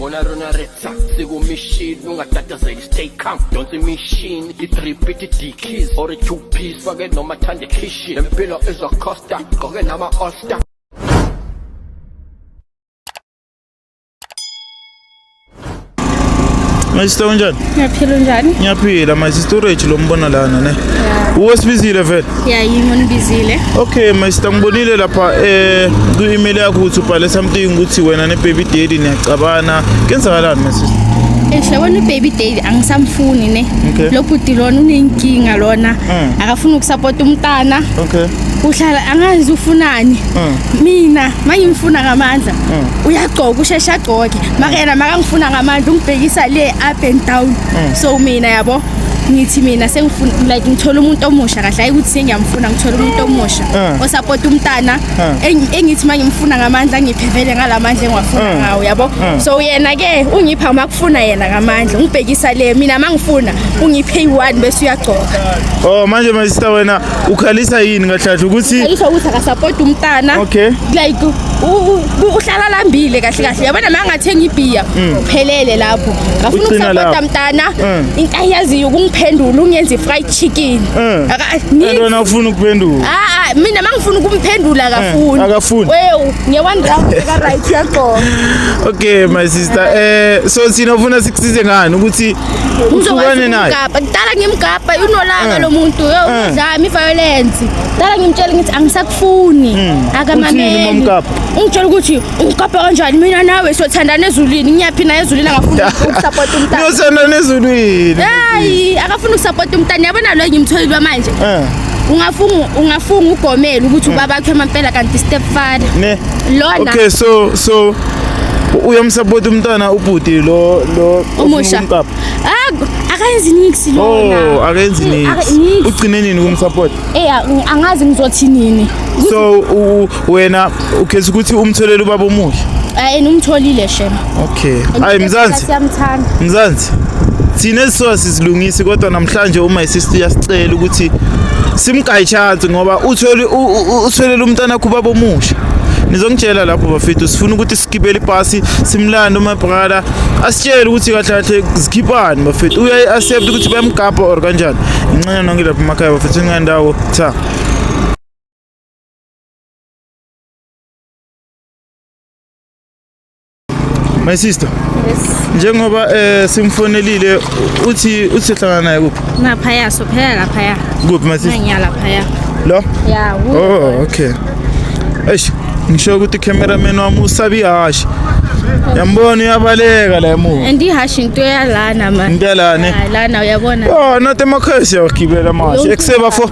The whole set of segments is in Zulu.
Gonna run a red sack, they go machine, no got that as a stay calm. Don't the machine, it repeat it the keys or a two piece, forget no matter the kitchen. Them pillow is a costa, go get nama all star. My sister unjani? Ngiyaphila unjani? Ngiyaphila my sister uRich lo mbona lana ne. Uwesibizile vele? Yeah, yimi onibizile. Okay my sister ngibonile lapha eh ku email yakho ukuthi ubhale something ukuthi wena ne baby daddy niyacabana. Kenzakalani my sister? Eshe wena baby daddy angisamfuni ne. Okay. Lo bhuti lona unenkinga lona. Mm. Akafuni ukusupport umntana. Okay. Uhlala angazi ufunani. Mm. Mina mangimfuna ngamandla. mm. uyagcoka usheshe agcoke maka yena makangifuna ngamandla ungibhekisa le up and down mm. so mina yabo ngithi mina sengifuna like ngithola umuntu omusha kahle hayi ukuthi sengiyamfuna ngithola umuntu omusha eh. osapota umntana eh. engithi uma ngimfuna ngamandla ngiphevele ngalamandla engiwafuna eh. ngawo yabo so yena ke ungipha uma kufuna yena ngamandla ungibhekisa le mina uma ngifuna ungiphe i-one bese uyagcoka oh manje my sister wena ukhalisa yini kahlahla ukuthi ayisho ukuthi akasapoti umntana okay like uhlala lambile kahle kahle yabona ma ngathenga ibhiya mm. uphelele lapho ngafuna ukusapota mntana mm. into ayiyaziyo ukungiphendula ungenza i-fried chicken mm. akantona ufuna ukuphendula a mina ma ngifuna ukumphendula akafuni akafuni wewu nge-one round ka-right yagqoka okay my sister um so thina ufuna sikusize ngani ukuthi Ngizokwazi ukumgabha. Kudala ngimgabha unolaka mm. lo muntu. Yo mm. udlami violence. Kudala ngimtshela ngithi angisakufuni. Mm. Akamameli. Ungitshela ukuthi ungigabha kanjani mina nawe sothandana ezulwini. Ngiyaphi na ezulwini angafuni ukusupport umntana. Ngiyothandana ezulwini. Hayi, akafuni ukusupport umntana. Yabona lo ngimtholile manje. Eh. ungafunga ungafunga ugomela ukuthi ubaba wakhe mampela kanti stepfather ne lona okay so so uyamsupport umntwana ubhuti lo lo omusha ah akenzi nix lona oh akenzi nix ugcine nini kumsupport eh angazi ngizothi nini so wena ukhetha ukuthi umtholele ubaba omusha hayi numtholile shema okay hayi mzansi siyamthanda mzansi thina esisola sizilungisi kodwa namhlanje uma isister uyasicela ukuthi simgayi chance ngoba uthole utholela umntana wakho ubaba omusha nizongitshela lapho bafethu sifuna ukuthi sigibele ibhasi simlande uma brother asitshele ukuthi kahle kahle zikhiphani bafethu uyayi accept ukuthi bayamgabha or kanjani inxenye nonke lapha emakhaya bafethu ingandawo cha My sister. Yes. Njengoba eh simfonelile uthi uthi hlangana naye kuphi? Ngapha ya so phela lapha ya. Kuphi my sister? Ngiyala lapha ya. Lo? Ya. Oh okay. Eish ngisho ukuthi cameraman wami usabi hashi. Yambona uyabaleka la emuva. And ihashi into yalana manje. Into yalana. Lana uyabona. Oh not emakhaya siyagibela manje. Ekuseba fo.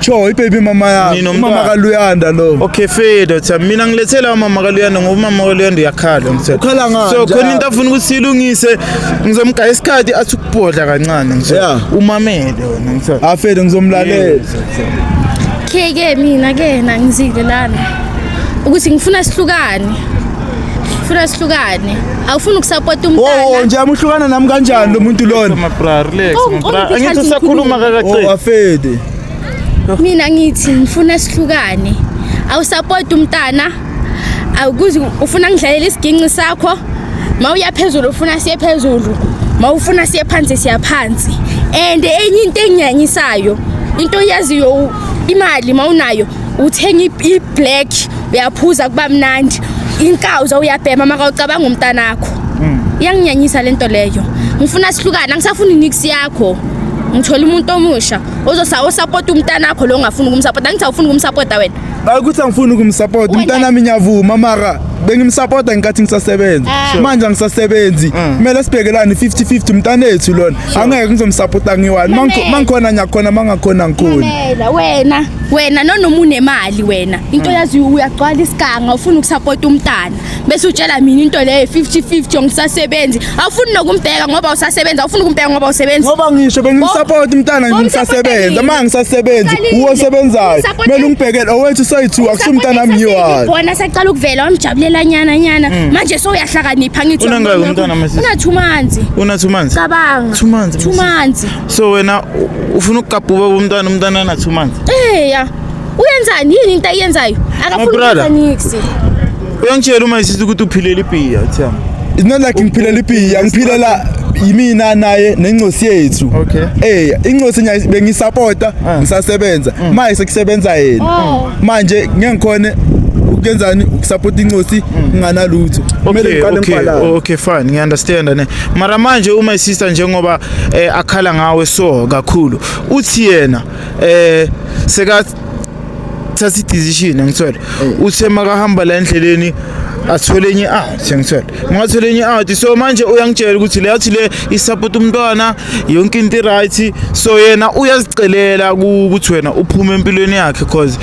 Sho ibaby mama yami. Nino Umama mntwana. kaLuyanda lo. Okay feyethu cha mina ngilethela umama kaLuyanda ngoba umama kaLuyanda uyakhala ngithe. Ukhala ngani? So khona into afuna ukuthi silungise ngizomgaya isikhathi athi ukubhodla kancane ngithe. Yeah. Umamele wena ngithe. Afethu ngizomlalela. Ke ke mina ke nangizile lana ukuthi ngifuna sihlukane. funa sihlukane awufuni ukusapota umntana oh, oh nje amuhlukana nami kanjani lo muntu lona mabra relax oh, mabra oh, angithi usakhuluma kakaqedi oh afede mina ngithi ngifuna sihlukane awusapota umntana awukuzi ufuna ngidlalela isiginci sakho ma uya phezulu ufuna siye phezulu ma ufuna siye phansi siya phansi and enye into engiyanyisayo into oyaziyo imali ma unayo uthenga i-black uyaphuza kuba mnandi inkawuza uyabhema makawucabanga umntanakho hmm. iyanginyanyisa le nto leyo ngifuna sihlukane angisafuni nix yakho ngithola umuntu omusha osapota umntanakho lo ongafuni ukumsapota angithi awufuni ukumsapota wena ukuthi angifuni ukumsapota umntanami ngiyavuma mara bengimsapota ngenkathi ngisasebenza ah. manje angisasebenzi mm. kumele sibhekelane 50-50 mntanethu lona angeke ngizomsapota ngiwani mangikhona ngiyakhona mangakhona ngikhona wena wena nanoma unemali wena into mm. yaziyo uyagcwala isiganga ufuna ukusapota umntana bese utshela mina into leyo 50-50 ongisasebenzi awufuni nokumbheka ngoba usasebenzi awufuni ukumbheka ngoba usebenzi ngoba ngisho bengimsapota umntana ngisasebenzi uma ngisasebenzi uwo sebenzayo kumele ungibhekele owethu soyithu akusumntana wami yiwa bona saqala ukuvela wamjabulela nyana nyana mm. manje so uyahlakanipha ngithi unangaki umntana mase una 2 months una 2 months cabanga 2 months 2 months so wena u- ufuna ukugabha ubaba umntwana umntwana ana two months Eh ya. Uyenzani yini into ayenzayo? Akafuni brother. niksi. uyangitshela uma isithi ukuthi uphilele ibhiya uthiyami it's not like ngiphilela ibhiya ngiphilela yimina naye nencosi yethu Okay. eh incosi nyayi bengisapota Ah. ngisasebenza manje sekusebenza yena Oh. manje ngeke ngikhone ukuyenzani ukusapota incosi nginganalutho Kumele okay ngiqale okay ngibhalane. okay fine ngiunderstand ne mara manje uma isister njengoba eh akhala ngawe so kakhulu uthi yena eh seka thatha i-decision angithole eh. uthe makahamba la endleleni athole enye i-out angithole makathola enye i-out so manje uyangitshela ukuthi le yathi le isupport umntwana yonke into i-right so yena uyazicelela ukuthi wena uphume empilweni yakhe cause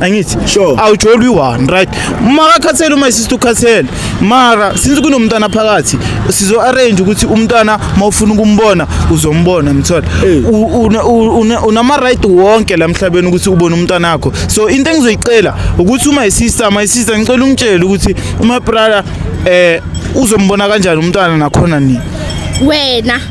angithi Sure. awujoli one right uma akakhathele uma isisi ukhathele mara since kunomntana phakathi sizo arrange ukuthi umntana mawufuna ukumbona uzombona mthola Eh. U- una- u- una- unama right wonke la mhlabeni ukuthi ubone umntana wakho so into engizoyicela ukuthi uma isista my sister ngicela ungitshele ukuthi uma brother eh uzombona kanjani umntana nakhona nini wena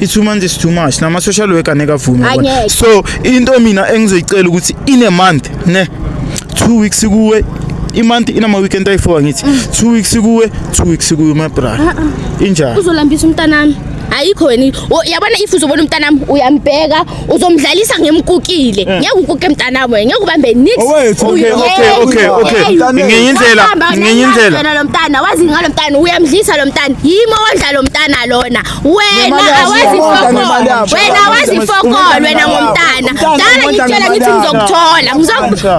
i-two months is too much nama-social worker ngeke avume Hayi, yabona. ngeke. so into mina engizoyicela ukuthi in a month ne two weeks kuwe imonth inama-weekend ayi-four angithi Mm. two weeks kuwe two weeks kuwe my brother Ah, injani uzolambisa umntanami ayikho wena i- o- yabona if uzobona umntanami uyambheka uzomdlalisa ngimkukile ngeke ukuke mntanami wena ngeke ubambe nix Eh. Owethu, okay, Uye- okay, okay, okay. Mntanami. Ngenye indlela, Wahamba wena, ngenye indlela. wena lo mntana wazi ngalo mntana uyamdlisa lo mntana yimo wondla lo mntana lona wena awazi fokolo wena awazi fokolo wena ngomntana dala ngitshela ngithi ngizokuthola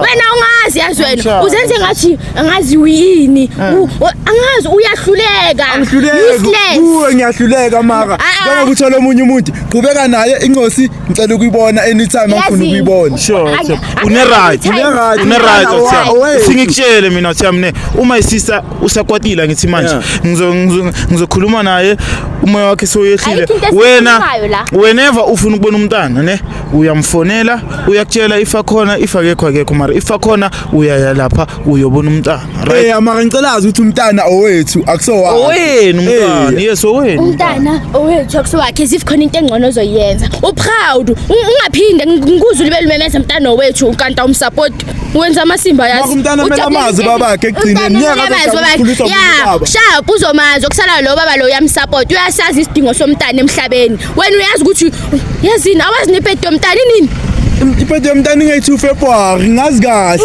wena ungazi yazi wena uzenze ngathi angazi uyini eh. angazi uyahluleka useless ngiyahluleka maka ah, ah. ngoba kuthola omunye umuntu qhubeka naye incosi ngicela ukuyibona anytime angifuna ukuyibona sure une right une right singikutshele mina uthi mina uma isisa usakwatile angithi manje Yeah. Ngizo- ngizo- ngizokhuluma naye umoya wakhe soyehlile Ayikho into wena esikhulumayo la. whenever ufuna ukubona umntana ne uyamfonela uyakutshela if akhona if akekho akekho mara if akhona uyaya lapha uyobona umntana right Eh mara ngicela azi ukuthi umntana owethu akusowakhe. owenu umntana Eh. yes owenu umntana owethu akusowakhe as if khona into engcono ozoyenza uproud ungaphinde ngikuzwe libe lumemeza mntana owethu ukanta umsapoti wenza amasimba yazi umntana mele amazi babakhe ekugcineni ya sha kuzomazi okusala lo baba lo uyamsupport uyasazi isidingo somntana emhlabeni wena uyazi ukuthi yazini awazi nepedi yomntana inini ipedi yomntana ingayi-two february ngazi kahle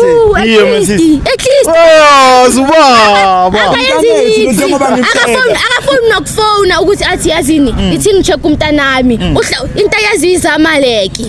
akafoni nokufona ukuthi athi yazini mm. ithi ngi-check umntanami mm. into yazi izamaleki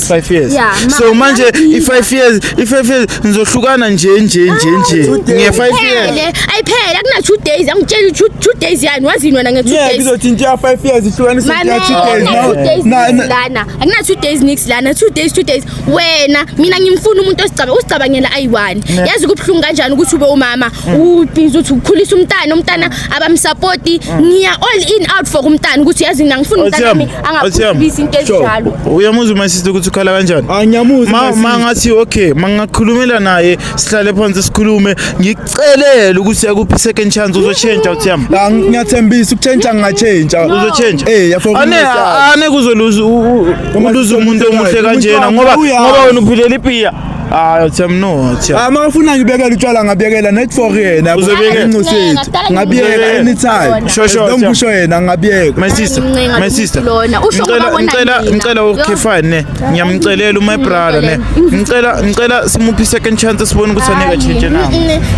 next 5 years Yeah, ma- so manje i 5 years i 5 years ngizohlukana nje nje nje nje nge 5 years Phele, ayiphele akuna two days angitshela ukuthi two- two days yani wazini wena nge two yeah days kizothinta 5 years ihlukanisa Mame, nje akuna two days na nix lana akuna two days nix lana two days two days wena mina ngimfuna umuntu osicaba usicabangela ayi-one yazi kubuhlungu kanjani ukuthi ube umama ubhizi uthi ukhulisa umntana umntana abamsapoti mm. ngiya all in out for kumntana ukuthi yazi mina ngifuna umntanami angaphulisi into ezinjalo uyamuzwa my sister ukuthi ukhala kanjani angiyamuzwa ah, ma ngathi okay mangakhulumela naye sihlale phansi sikhulume ngikucelele ukuthi yakuphi second chance uzotshentsha uthi yami la ngiyathembisa ukutshentsha ngingatshentsha uzotshentsha eh yafo ane ane kuzoluza uluza umuntu omuhle kanjena ngoba ngoba wena uphilela ipiya hayi utshemnothi ah makafuna ngibekele utshwala ngabekela net for yena uzobekela incosethi ngabiyeka anytime shosho don't push yena ngabiyeka my sister my sister lona usho ngibona ngicela ngicela ukhefane ne ngiyamcelela uma brother ne ngicela ngicela simuphi second chance sibone ukuthi aneka change na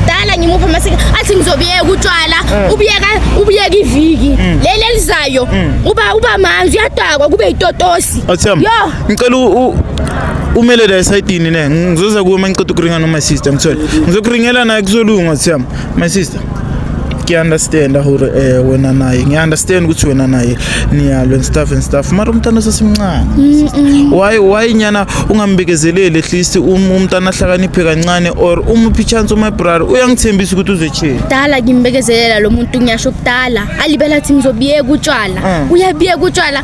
dala ngimupha masike athi ngizobiyeka utshwala mm. ubiyeka ubiyeka iviki mm. leli elizayo mm. uba uba manzi uyadakwa kube itotosi yo ngicela umele la esayidini ne ngizoza kuwe uma ngiqeda ukuringa noma sister ngithole ngizokuringela naye kuzolunga siyam my sister ngiyaunderstand hore um eh, wena naye ngiyaunderstand ukuthi wena naye niyalo and stuff and stuff mara umntana osesemncane why why nyana ungambekezeleli at least um, umntana ahlakaniphe kancane or umuphi ichance umabrara uyangithembisa ukuthi uzochela dala ngimbekezelela lo muntu ngiyasho kudala alibela athi ngizobiyeka utshwala mm. uyabiyeka utshwala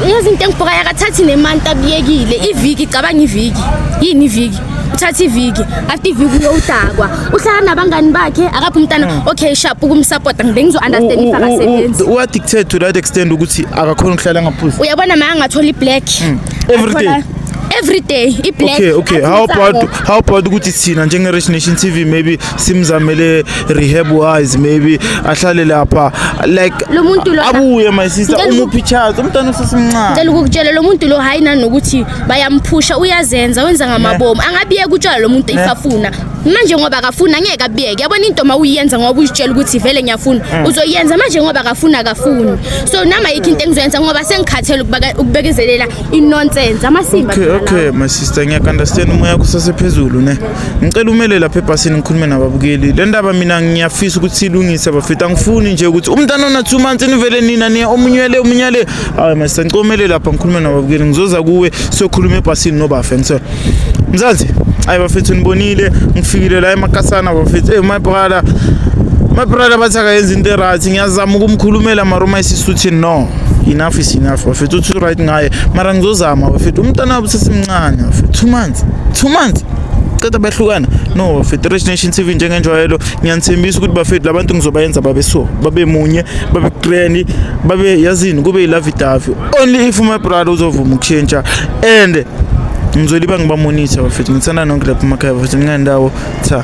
yazi into engibhokayo akathathi nemanti abiyekile iviki cabanga iviki yini iviki uthatha iviki after iviki uyowudakwa uhlala nabangani bakhe akaphi umntana hmm. okay sharp ukumsupporta ngibe ngizo-understand if akasebenzi uaddicted to that extent ukuthi akakhona ukuhlala ngaphuzi uyabona ma angathola i-black hmm. every day every day i-black okay okay how about how about ukuthi thina njenge-rich nation tv maybe simzamele rehab wise maybe ahlale lapha like Lo muntu lo- abuye my sister Ngicela uku- umuphi charge umntana usesemncane Ngicela ukukutshela lo muntu lo hayi nanokuthi bayamphusha uyazenza wenza ngamabomu angabiyeka utshwala lo muntu if afuna manje ngoba akafuni angeke abiyeke yabona into uma uyiyenza ngoba uyitshela ukuthi vele ngiyafuna uzoyenza manje ngoba akafuni akafuni so nama yikho into engizoyenza ngoba sengikhathele ukubaka- ukubekezelela inonsense amasimba okay phela lawo. okay my sister ngiyakunderstand umoya yakho usasephezulu ne ngicela umele lapha ebhasini ngikhulume nababukeli le ndaba mina ngiyafisa ukuthi ilungise bafethu angifuni nje ukuthi umntana ona-two months nivele nina niya omunyele omunyele hayi mase ngicela umele lapha ngikhulume nababukeli ngizoza kuwe siyokhuluma ebhasini nobafe ngisela mzansi ayi bafethu nibonile ngifikile la emakasana bafethu eyi my brother my brother bathi akayenza into erathi ngiyazama ukumkhulumela mara uma isisuthi no enough is enough bafethu uthi right ngaye mara ngizozama bafethu umntana wabo sesimncane bafethu two months two months ceda behlukana no Federation Nation TV njengenjwayelo ngiyanithembisa ukuthi bafethu labantu ngizobayenza babe so babe munye babe grand babe yazini kube ilove davi only if my brother uzovuma ukushintsha and ngizoliba ngibamonitha bafethu ngithanda nonke lapha emakhaya bafethu ngingandawo cha